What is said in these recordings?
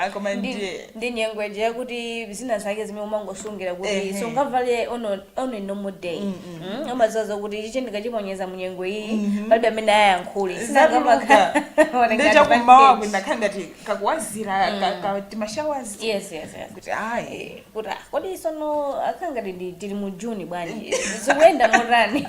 Ah, koma ndi ndiye ndi nyengo ija yakuti zina zake zimene umangosungira kuti Ehe. sungavale on a normal day Mm, umadziwa zakuti ichi ndikachiponyeza mu nyengo iyi palibe amene ayankhule zatuluka ndiye chakummawa kunakhala ngati kakuwazira ka- ka- timashawazi yes yes yes kuti ayi kuti ah, kodi tsono akukhala ngati ndi- tili mu juni bwanji zikuyenda motani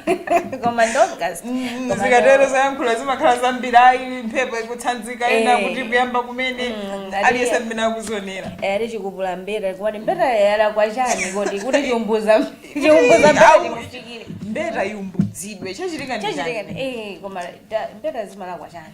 koma ndi august Koma zikatero ndo- zayankhula zimakhala zambiri ayi mphepo ikutsanzika ina Eh. kuti kuyamba kumene Mm, ngati- aliyense mmene akuzionera Eh, ali chikupula mbeta kodi mbeta yalakwa chani kodi kuti chiumbuza chiumbuza mbeta Au. chikufikire mbeta iumbudzidwe chachitika ndi chachitika chani? eh koma ta- mbeta zimalakwa chani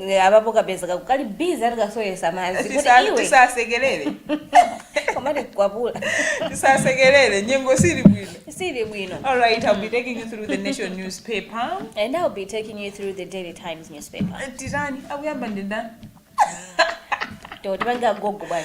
N- apapo kapezeka kukali busy ati kasowesa madzi kuti Tisa- iwe tisasekelere koma tikwapula tisasekelere nyengo sili bwino sili bwino all right i'll be taking you through the nation newspaper and i'll be taking you through the daily times newspaper titani akuyamba ndindani totipanga gogo bwana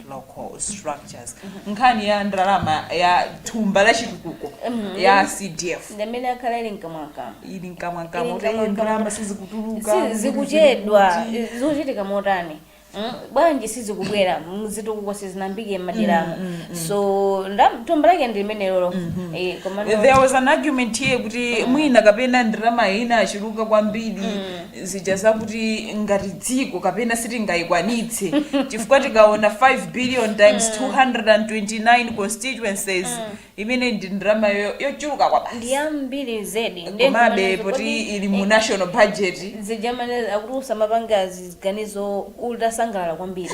local structures nkhani ya ndalama ya thumba la chitukuko ya cdf ndamene akhala ali mkamwamkamwa ili mkamwamkamwa Ili kuti mkamwamkamwa. "Eh, ndalama sizikutuluka Si- zikuchedwa zikuti." zikuchitika motani Mm, bwanji sizikubwera zitukuko sizinayambike mmaderamo so ndam- thumba lake ndi limenelolo Eh, koma no- there was an argument here kuti mwina kapena ndalama inachuluka kwambiri zija zakuti ngati dziko kapena sitingayikwanitse chifukwa tikaona 5 billion times 229 constituencies imene ndi ndalama yo- yochuluka kwabasi ndi yambiri zedi Ndiye komabe ndimanena kuti poti kodi- ili mu national budget zija amanena kuti usamapanga ziganizo utasangalala kwambiri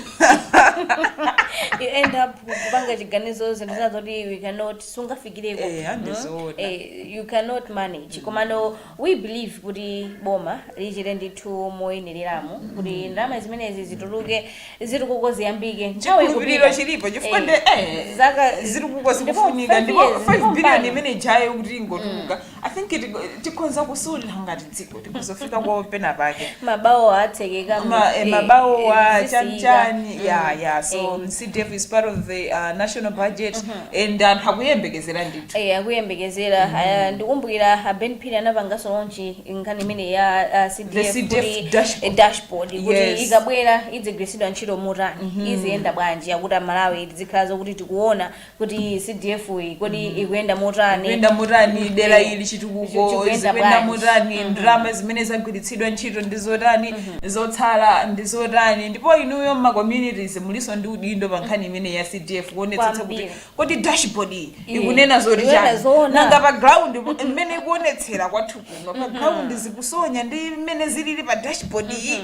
you end up kupanga chiganizo zinthu zina zoti we cannot sungafikireko Eh, ande Mm. zoona. Eh, you cannot manage komano We believe kuti boma lichite ndithu moyenereramo kuti ndalama zimenezi zituluke zitukuko ziyambike nthawi chikhulupiriro ikupita. chilipo chifukwa Eh, ndi eh, zaka- zitukuko ndipo zikufunika five ndipo years, 5 ndipo billion mpano. imeneijayo kuti ingotuluka i think it- tikhonza kusunthira ngati dziko tikudzafikako pena pake mabawo atsekeka Ma- eh, mabawo achanichani ya ya so cdf is part of the uh, national budget and anthu akuyembekezera ndi Eya akuyembekezera ah, ndikumbukira a Ben Phiri anapanganso launch nkhani imene ya ah, The CDF CDF kuti eh, dashboard. dashboard kuti Yes. ikabwera idzigwiritsidwa ntchito motani iziyenda bwanji akuti amalawi tizikhala zokuti tikuona kuti CDF iyi kodi ikuyenda motani ikuyenda motani dera Eh, ili chitukuko chikuyenda zikuyenda bwanji. motani ndalama zimene zagwiritsidwa ntchito ndi zotani zotsala ndi zotani ndipo inuyo mma communities mulinso ndi udindo pa nkhani imene ya cdf kuonetsetsa kuti Kwambiri. kodi dashboard iyi Eh, ikunena zoti chani nanga pa ground po- mmene ikuonetsera kwathu kuno pa ground zikusonya ndi mmene zilili pa dashboard iyi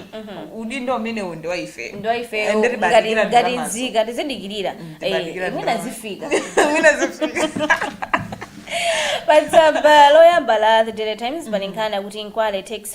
udindo umenewu ndi wa ife ngati nzika tizidikirira mwina zifika patsamba loyamba la the daily times pali nkhani yakuti nkwale takes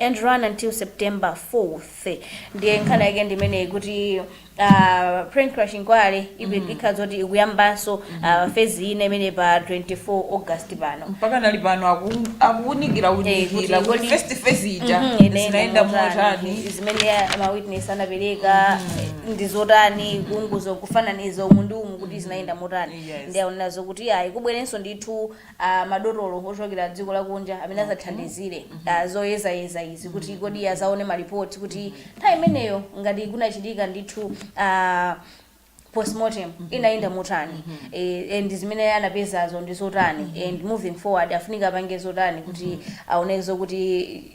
and run until September 4th ndiye nkhani yake ndi imeneyi kuti uh, plane crash inquiry ipi- ikhala zoti ikuyambanso uh, fezi ina imene pa 24 august pano mpakana ali pano aku- akuunikira Eh, kuti unikira kuti kodi- first phase ija Mhm, ine zinaenda motani, motani zimene ya- ma witness anapereka ndi zotani kuunguza kufananiza umu ndi umu kuti zinaenda motani Yes. ndiye aona zokuti ayi kubwerenso ndithu madotolo ochokera dziko lakunja amene adzathandizire zoyezayeza izi kuti kodi azaone ma report kuti nthawi imeneyo ngati kunachitika ndithu postmortem inayenda motani eh, and zimene anapezazo ndi zotani and moving forward afunika apange zotani kuti aone zokuti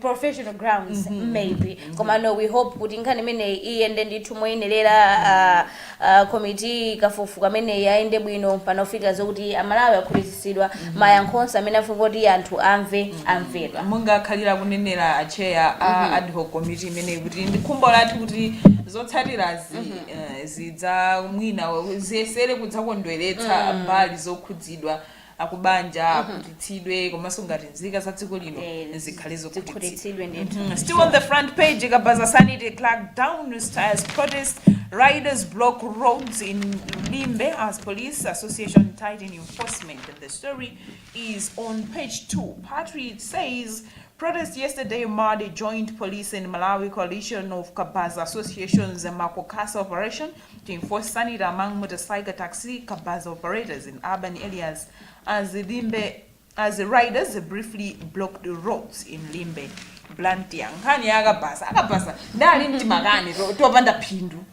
professional grounds mm -hmm. maybe mm -hmm. komano we hope kuti nkhani imeneyi iyende ndithu moyenerera uh, uh, komiti yakafukufuku imeneyi iyende bwino mpakana pofika zokuti amalawi akhutitsidwa mm -hmm. mayankho onse amene afunika kuti anthu amve mm -hmm. amvedwa monga akhalira kunenera acheya a mm -hmm. ad hoc committee imeneyi kuti ndi khumbo lathu kuti zotsatirazi mm -hmm. uh, zidza mwina ziyesere kudzakondweretsa mm -hmm. mbali zokhudzidwa akubanja mm -hmm. akhutitsidwe komanso ngati nzika za dziko lino eh, zikhale zokhutitsidwe ndithu mm -hmm. still on the front page kabaza sanity clark down styles protest riders block roads in limbe as police association tighten enforcement and the story is on page 2 patrick says Protest yesterday marred a joint police and Malawi coalition of Kabaza associations and Makokasa operation Team Force Sanita among Mutasyga Taxi Kabasa operators in urban areas as Limbe as riders briefly blocked roads in Limbe. Blantyre. Nkhani ya akabasa. Akabasa ndali mtimakani to- topanda phindu.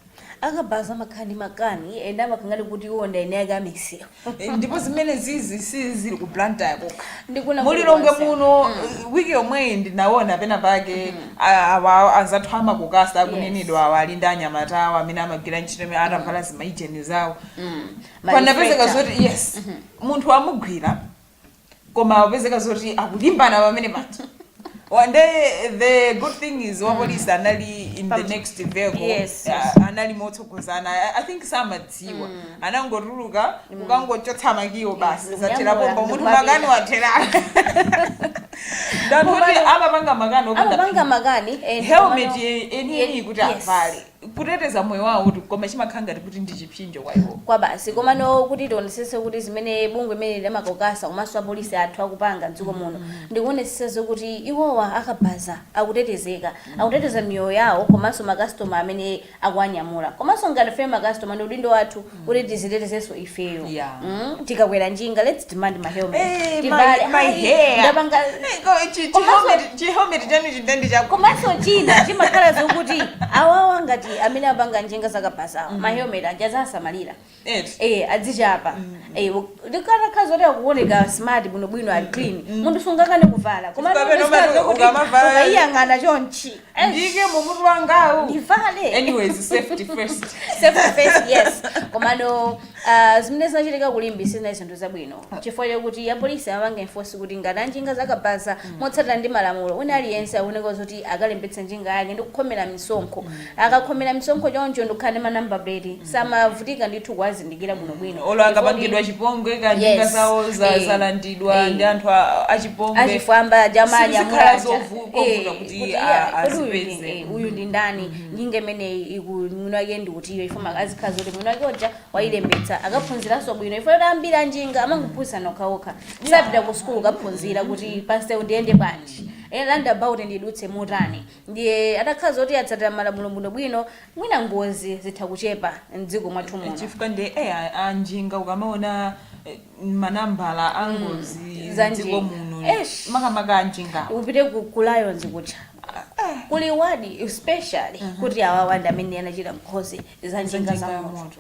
akabhaza makani makani ena amakangani kuti iwo ndi ene ake amisiyo Eh, ndipo zimenezizi sizili ku blantyre kokha Ndi kuno mu lilongwe kulikonse. muno eh, wiki yomweyi ndinaona pena pake a- awa anzathu a MACOKASA akunenedwawa ali ndi anyamata awo amene amagwira ntchito imene atavala zimaijeni zawo panapezeka Ma reflector. zoti yes munthu wamugwira koma akupezeka zoti akulimbana pamene paja Wa- ndiye the good thing is wapolisi anali in the next vehicle Yes, Ah, yes. anali motsogozana I- i think samadziwa anangotuluka kukangochotsa makiwo basi Ndikunyamula, zathera pompo munthu ndikumapita. makani athera ndi anthu kuti amapanga makani opanda amapanga makani and helmet komano- enieni kuti Yes. avale kuteteza moyo wawotu koma chimakhala ngati kuti ndi chipsinjo kwa iwo koma basi komano kuti tionetsetse kuti zimene bungwe limeneli la MACOKASA komanso apolisi athu akupanga mdziko muno ndikuonetsetsa zokuti iwowa akabaza akutetezeka akuteteza miyoyo yawo komanso makastoma amene akuwanyamula komanso ngati ife makastoma ndi udindo wathu kuti tizitetezenso ifeyo Yeah. Mm, tikakwera njinga let's demand ma helmet Eh, Tivale, my- my hair ndapanga Eh, ko- chi- chi- Komanso- helmet- chi helmet chanu chidandi chako komanso china chimakhala zokuti awawa ngati amene apanga njinga zakabazawa ma helmet aja azisamalira Eti. eh azichapa eh ndikukhala zoti akuoneka smart bwinobwino ali clean munthu sungakane kuvala koma Chifukwa pamene umati ukamavalayo- ukayiyang'ana chonchi ndiyike mu mutu wangawu ndivale anyways safety first Safety first, yes komano uh, zimene zinachitika kulimbi sizinali zinthu zabwino chifukwa chakuti apolisi amapanga enforce kuti ngati anjinga zakabaza motsatira ndi malamulo wina aliyense akuyenera zoti akalembetse njinga yake ndi kukhomera misonkho akakhomera misonkho choncho ndikukhala ndi ma number plate samavutika ndithu kuwazindikira bwinobwino olo akapangidwa Chikondi- chipongwe ka njinga Yes. zawo za- Eh. zalandidwa Eh. ndi anthu a- achipongwe achifwamba Sizikhala jamanyamulaja zovu- kovuta kuti a- azipeze. uyu ndi ndani njinga imeneyi kuti mwini wake ndi utiyo ife timafuna azikhala zoti mwini wake uja wayilembetsa akaphunziranso bwino chifukwa choti ambiri anjinga amangophunzira okhaokha sapita ku sukulu kaphunzira kuti pansewu ndiyende bwanji roundabout ndidutse motani Ndiye atakhala zoti atsatira malamulo bwinobwino mwina ngozi zitha kuchepa m'dziko mwathu muno. chifukwa ndiye eh, a- anjinga ukamaona eh, manambala a ngozi za mdziko njinga. muno Eish. makamaka anjingawo upite ku, ku lions kuja kuli wadi ya special kuti awawa ndi amene anachita ngozi za njinga za moto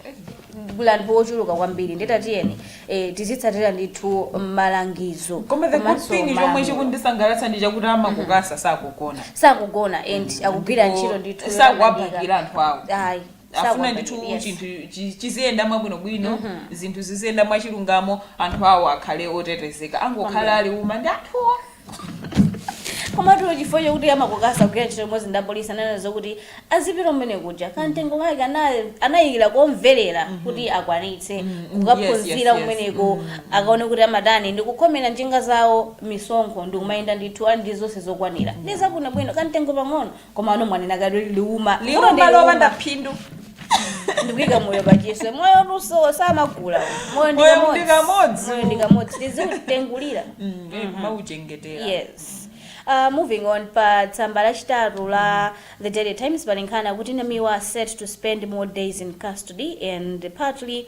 kuli anthu ochuluka kwambiri ndiye ta tiyeni eh, tizitsatira ndithu malangizo koma the good komanso thing chomwe malamulo. chikundisangalatsa ndi chakuti amakukasa sakugona sakugona and akugwira ntchito ndithu sakuwabakira anthu awo ayi afuna ndithu sakuwabakira, yes. chinthu chi- chiziyenda mwabwinobwino zinthu ziziyenda mwachilungamo anthu awo akhale otetezeka angokhala a liuma ndi anthuwo komatu chifukwa chakuti amakukasa akugwira ntchito limodzi ndi apolisi ananena zokuti azipita kumene kuja kamtengo kake ana- anayikira komvetsetseka kuti akwanitse kukaphunzira yes, yes. kumeneko akaone kuti amatani ndi kukhomera njinga zawo misonkho ndi kumayenda ndithu ali ndi zonse zokwanira ndi zabwinobwino kamtengo pang'ono komano mwanena kale kuti liuma liuma Liuma, lopanda liuma. phindu ndikuika moyo pachiswe moyo uwu samagula moyo ndi Moyo ndi kamodzi. kamodzi moyo ndi kamodzi tiziuchengetera kumauchengetera yes Uh, moving on pa tsamba lachitatu la the daily times pali nkhani yakuti namiwa are set to spend more days in custody and pa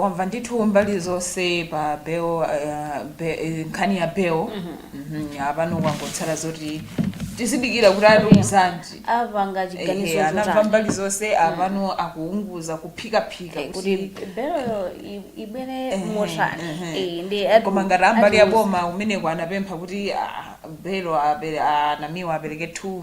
lamva ndithu mbali zonse pa bail, uh, be, eh, nkhani ya bail Mhm, apano kwangotsala zoti tidikira kuti atiuzanji apanga chiganizo Ehe, anamva chotani mbali zonse apano akuunguza kuphikaphika Eh, kuti kuti belo i- ibwere Ehe, motani ehe. Eh, ndi ati- koma ngati a mbali ati- ya boma umeneko anapempha kuti ah, belo apere- ah, namiwa apereke 2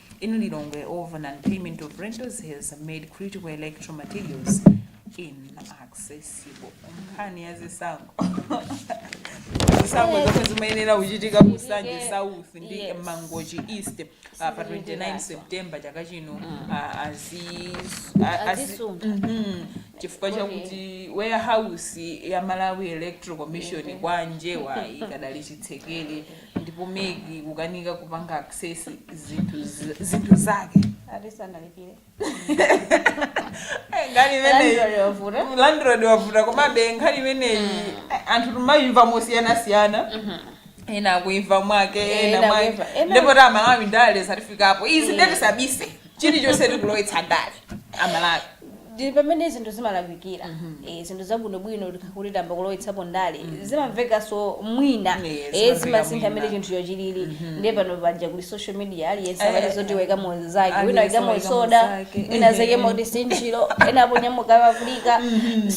in Lilongwe over non-payment of rentals has made critical electoral materials inaccessible. Nkhani ya zisankho. Zisankho zomwe zimayenera kuchitika ku Nsanje South ndi Yes. Mangochi East uh, pa 29 Zilindirazo. September chaka chino uh, azi- a- azi- Azisunga. Mhm. chifukwa chakuti warehouse ya Malawi Electoral Commission kwa Njewa ikadali chitsekere ndipo MEC kukanika kupanga access zinthu z- zinthu zake asanalipire Eh, nkhani imeneyi Landlord wavuta. landlord wavuta komabe nkhani imeneyi eh, anthu timayimva mosiyanasiyana ena akuimva mwake Eh, ena ena mwake akuimva, ena- ndipo Amalawi ndale zatifikapo izi ndiye tisabise chilichonse tikulowetsa ndale amalawi ndi pamene zinthu zimalakwikira Eh, zinthu zabwinobwino tikayamba kulowetsapo ndale zimamveka so mwina Yes, Eh, zimamveka zimasintha mmene mwina. chinthucho chilili ndiye pano paja kuli social media aliyense Eh, amati zoti waikamo zake aliyense wina waikamo waikamo soda zake. wina zakemo kuti sinchilo ena aponyamuka afirika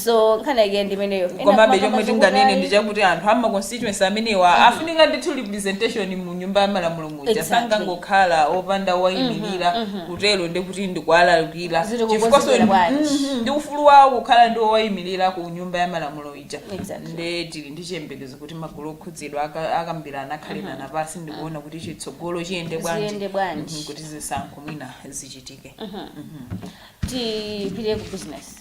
so nkhani yake ndi imeneyo Ena komabe amakamba chomwe tinganene zokudai. ndi chakuti anthu a ma constituency amenewa afunika ndithu representation mu nyumba ya malamulo muja Exactly. sangangokhala opanda wowayimirira kutero ndi kuti ndikuwalakwira Ziri chifukwa kukonzekera so- bwanji. Mhm, ndi ufulu wawo kukhala ndi wowayimirira ku nyumba ya malamulo ija Exactly. nde tili ndi chiyembekezo kuti magulu okhudzidwa aka- akambirana akhalirana pansi ndikuona kuti chitsogolo chiyende bwanji Ziyende bwanji. Mhm, kuti zisankho mwina zichitike tipite ku business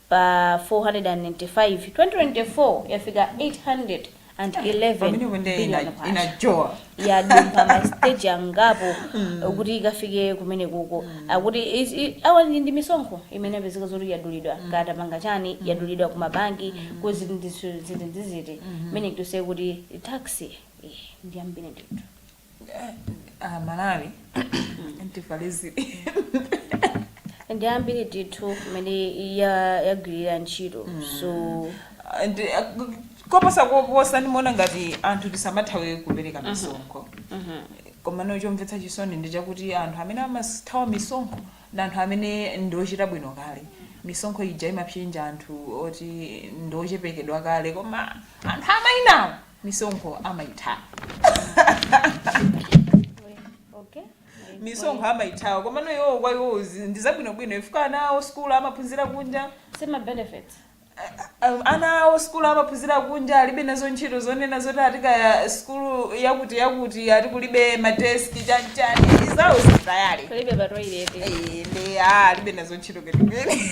pa 495, 2024 yafika 811 pamenepo ndiye ina- billion kwacha. inajowha yadumpha ma stage angapo kuti ikafike kumeneko akuti is- i- awa ndi ndi misonkho imene yapezeka zoti yadulidwa ngati tapanga chani yadulidwa ku mabanki ku zinthu zinthu zitizimene kutoso kuti tax eh, ndi yambiri ndithu Ah, malawi antifalizi ndi ambiri ndithu kumene ya- yagwirira ntchito so Ndi- ah, koposa koposa ndimaona ngati anthu tisamathawe kupereka misonkho komano chomvetsa chisoni ndi chakuti anthu amene amathawa misonkho ndi anthu amene ndiochita bwino kale misonkho ija imapsinja anthu oti ndiochepekedwa kale koma anthu amainawo misonkho amayithawa okay misonkho amayithawa komano iwowo kwa iwowo zi- ndi zabwinobwino chifukwa ana awo sikulu amaphunzira kunja si ma benefits Um, ana awo sikulu amaphunzira kunja alibe nazo ntchito zonena zoti ati kaya sikulu yakuti yakuti ati kulibe madesiki chanchani izawo zizayale palibe ma toilet Eh, ndi ah, alibe nazo ntchito ketukene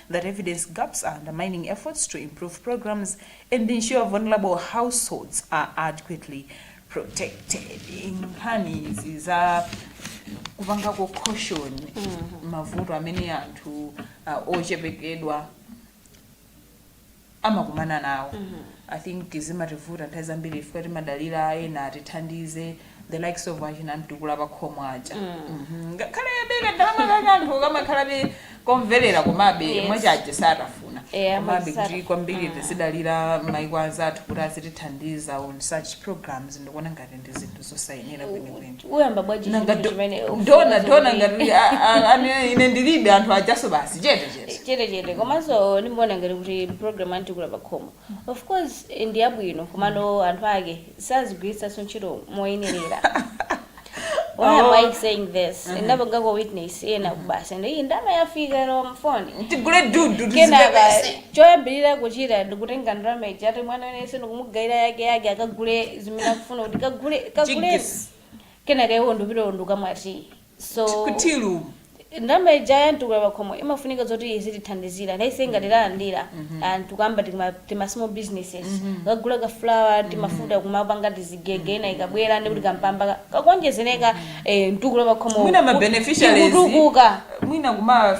that evidence gaps are undermining efforts to improve programs and ensure vulnerable households are adequately protected. Nkhani izi za kupangako cushion mavuto amene anthu uh, ochepekedwa amakumana nawo i think zimativuta nthawi zambiri chifukwa timadalira ena atithandize the likes of achina mtukula pakhomo aja Mhm. ngakhale beka ndalama kake anthu kamakhalabe komverera komabe Yes. mwachaje satafuna Eh, komabe kuti amazisata- kwambiri tizidalira maiko anzathu kuti azitithandiza on such programs ndikuona ngati ndi zinthu zosayenera kwenikweni uyamba bwaji Nanga chinthu do- chimene dona dona ngati a- a- ane- ine ndilibe anthu ajaso basi chete chete chete chete komanso ndimaona ngati kuti program ya mtukula pakhomo of course eh, ndi yabwino komano anthu ake sazigwiritsanso ntchito moyenerera Why am Oh. I saying this? Ndapangako witness ena kumati ndi iyi ndalama yafika lero mfoni. tigule dudu Kenaka tizipepese choyambirira kuchita ndikutenga ndalama ija ati mwana wense ndikumugayira yake yake akagule zimene akufuna kuti kagule kagule Jigs. kenaka iwo ndikupita ndikukamwa so kutilu ndalama ija ya mtukula pakhomo imafunika zoti izitithandizira nafenso ngati talandira n'kuyamba tima- tima small businesses kugula ka flour timafuta kumapanga tizigege ina ikabwera ndikuti kampamba ka- kakuonjezereka eh, mtukula pakhomo mwina ma beneficiaries tikutukuka mwina kuma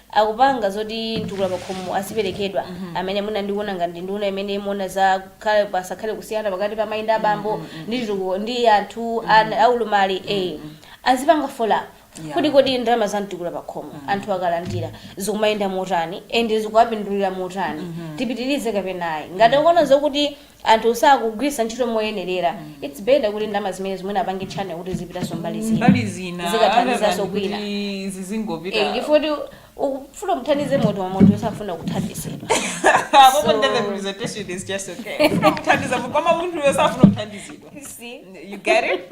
akupanga zoti mtukula pakhomo aziperekedwa amene mwina ndikuona ngati ndi nduna imene imaona za kuti pasakhale kusiyana pakati pa amayi ndi abambo ndi chitukuko ndi anthu ana aulumali ee azipanga follow up Yeah. kuti kodi ndalama za mtukula pakhomo anthu akalandira zikumayenda motani and zikuwapindulira motani tipitirize kapena ayi ngati ukuona zokuti anthu sakugwiritsa ntchito moyenerera its better kuti ndalama zimenezi mwina apange channel kuti zizipitanso mbali zina mbali zina other zikathandizanso than kwina kuti Eh, zizingopita chifukwa kuti ukufuna muthandize munthu wa munthu osafuna kuthandizidwa apopo nde the presentation is just okay kuthandiza koma munthuyo safuna kuthandizidwa You see? you get it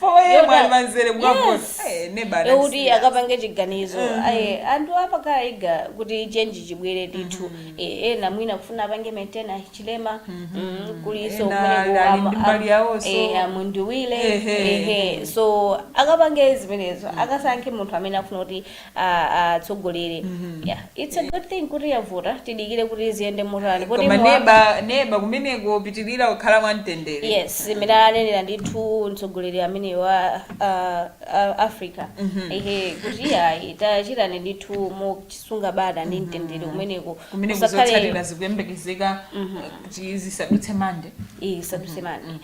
4 a.m. Yota- ali pamzere kukavota. Yes. Eh, neba anali ekuti serious. akapange chiganizo ayi anthu apakhala eager kuti change chibwere ndithu Eh, ena mwina kufuna apange maintain Hichilema mm, kulinso Ena kumene ali kuwama- ndi mbali yawonso. eh, a Mundubile Ehe. ehe so akapange zimenezo akasankhe munthu amene afuna kuti atsogolere yeah. its a good thing kuti avota tidikire kuti ziyende motani kodi koma muwapa- neba neba kumeneko apitirire kukhala mwamtendere yes zimene anenera ndithu mtsogoleri amene wa uh, uh, africa ehe kuti ayi tachitanani ndithu mosunga bata ndi mtendere kumeneko kumene Kusakhale- kuzotsatira zikuyembekezeka eh, kuti zisadutse Monday zisadutse Monday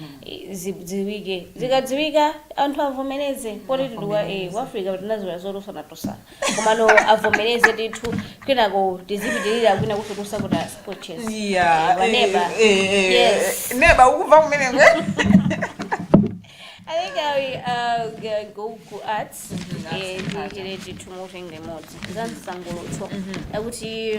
zidziwike zikadziwika anthu avomereze poti tili eh, ku africa tinazolowera zotsutsanatsutsana komano avomereze ndithu kwinako tizipitirira kwina kukatsutsa kuti ku courts Yeah, Eh, waneba eh, eh, eh, yes neba ukuva kumene kwe I think I uh, g- go ku arts eh, tichire tithu mutenge imodzi za msangulutso akuti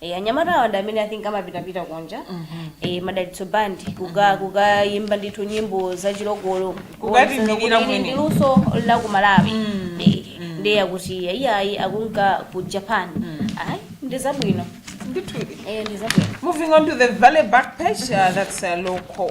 Eh, anyamata awa ndi amene i think amapitapita kunja eh, madalitso band kuka- kukayimba ndithu nyimbo za chilokolo Kukatiyimirira Kuwonetsa kuti ili ndi kumene. luso la ku malawi Eh, ndiye akuti iyayi akunka ku japan ayi ndi zabwino ndithudi Eh, ndi zabwino Moving on to the very back page, uh, that's uh, local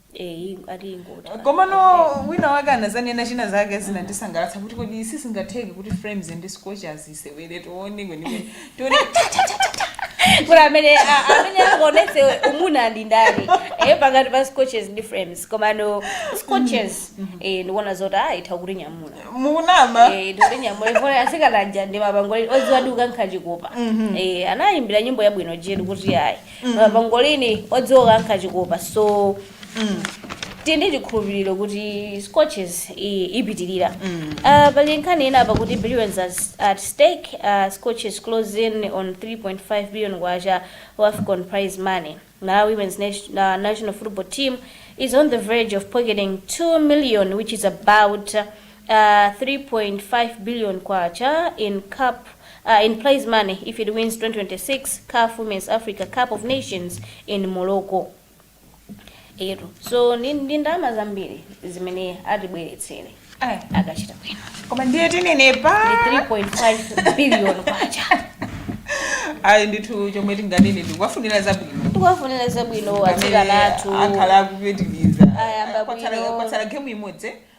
Eh, ingo- ati ingoti. komano wina wake anazanena china zake zinandisangalatsa kuti kodi sizingatheke kuti Flames ndi scorchers isewere tione kwenikweni tione Kuti amene a- amene akuonese umuna ndi ndani eh pakati pa Scorchers ndi Flames komano Scorchers eh ndikuona zoti ah itha kutinyamula mukunama eh ndi kutinyamula ifuna asikana aja ndi mapangolini oziwa kukankha chikopa eh anayimbira nyimbo yabwino Jetu kuti ayi mm. uh, pangolini odziwa kukankha chikopa so mm. tili ndi chikhulupiriro kuti Scorchers i- ipitirira mm. uh, pali nkhani ina apa kuti billions as- at stake uh, Scorchers close in on 3.5 billion kwacha WAFCON prize money malawi women's nation, uh, national football team is on the verge of pocketing 2 million which is about uh, K3.5 billion in cup in prize money if it wins 2026 caf womens Africa cup of nations in Morocco eyetu so ndi ndi ndalama zambiri zimene atibweretsere Ai, akachita bwino koma ndiye tinenepa ndi 3.5 billion kwacha ayi ndithu chomwe tinganene ndikuwafunira zabwino tikuwafunira zabwino atsikana athu akhala akupitiriza Ayamba Kwatsala- bwino. kwatsala gemu imodzi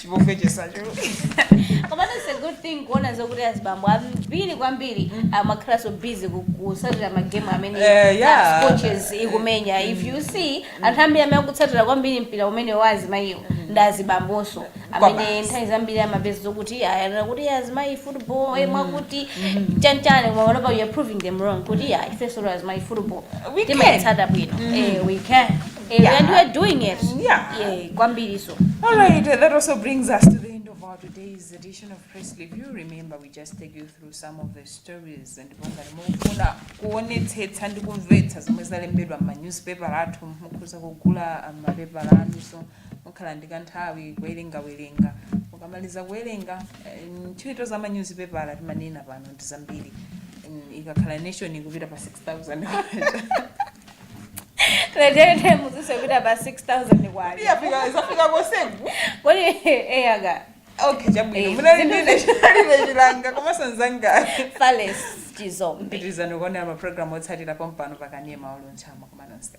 chipongwe chisachuluke koma it's a good thing kuona zokuti azibambo ambiri kwambiri amakhala so busy ku- kusatira magemu amene Eh, yeah. uh, Scorchers ikumenya if you see anthu ambiri amene akutsatira kwambiri mpira umene wa azimayiwo ndi azibambonso amene Kwabasi. nthawi zambiri amapeza zokuti amanena kuti azimayi football eh, mwakuti chanchani koma panopa you're proving them wrong kuti yeah, ifenso azimayi football We can. timayitsata bwino eh, we can Eh, Yeah. and we're doing it. Yeah. Yeah, kwambiriso. All right, uh, that also brings us to the end of our today's edition of Press Review. Remember, we just take you through some of the stories and ngati mukufuna kuonetsetsa ndi kumvetsa zomwe zalembedwa m'ma newspaper athu mukhoza kugula ah, mapepala anu so mukhala ndi kanthawi kuwerengawerenga mukamaliza kuwerenga eh, ntchito za ma newspaper timanena pano ndi zambiri Mm, ikakhala nation ikupita pa 6000 Tete muzise kuti apa 6000 kwali. Iyafika isafika kosengu. Kodi eh aga Okay, chabwino. Eh, Munali zimene- ndi ine chinali chilanga komanso nzanga. Fales chizombi. Pitilizani kuonera ma program otsatira pompano pakanema wa Luntha ma kumanonse.